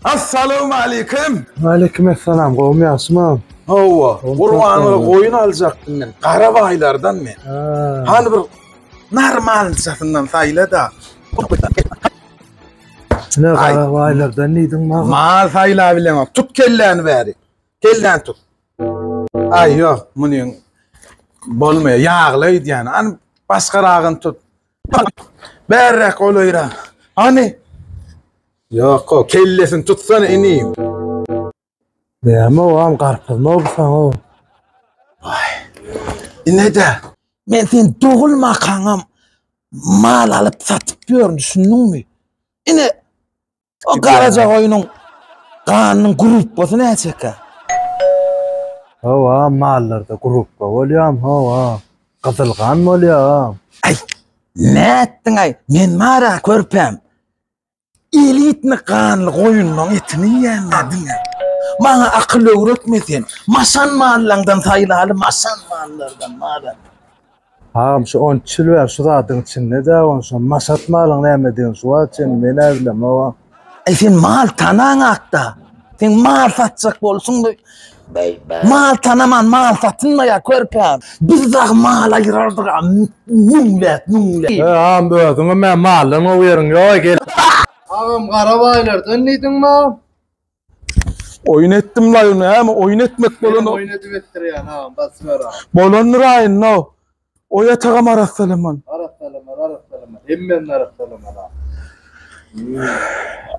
Assalamualeýkum. Waleýkim essalam gowmy ýagşymy. Hawa gurbanyňa goýun aljakdym men gara baýlardan men. Hany bir normalnyjasyndan saýlada. Ine gara baýlardan diýdiň maňa. Mal saýlap bilemok tut kelläni bäri. Kelläni tut. Aý ýok munyň bolmaýar ýagly öýdýän. Hany başgaragyny tut. Bärräk golaýrak. Hany. Ýoko, kellesini tutsana inim. Näme ogam garpyzmy bu saňa? Waý. Inede. Men sen dogulmakaňam mal alyp satyp ýörün düşündiňmi? Ine o garaja goýnuň ganynyň grupbasy näçekä? Hawa mallarda grupba bolýam hawa. Gyzyl gan bolýa. Aý nätdiňaý men mara körpäm. Elitni ganly goýunlaň etini iýenler diňe. Maňa akyl öwretme sen. Maşan mallaňdan saýlaly maşan mallardan malat. Agam şu on iki ýyl bäri şu zadyň içinde dä on şo maşat malyň nämedigini şu wagt çenli men ä bilemogam. Eý sen mal tanaň akda. Sen mal satjak bolsuňda Mal tanaman mal satynmaýar körpem. Biz dagy mal aýyrardyk a müňlet müňlet. Agam özüňem men maldan gowy ýeriň ýok ekel. Agam gara baýlardan diýdiňma. Oýun etdim laýyny äme oýun etmek bolan. Oýun edip etdirýän agam basyber agam. Bolandyr aýynda. Oý atagam arassalaman. Arassalaman, arassalaman. Hemmäni arassalaman.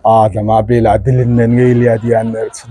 Adama bela dilinden geýilýär diýýänler üçin.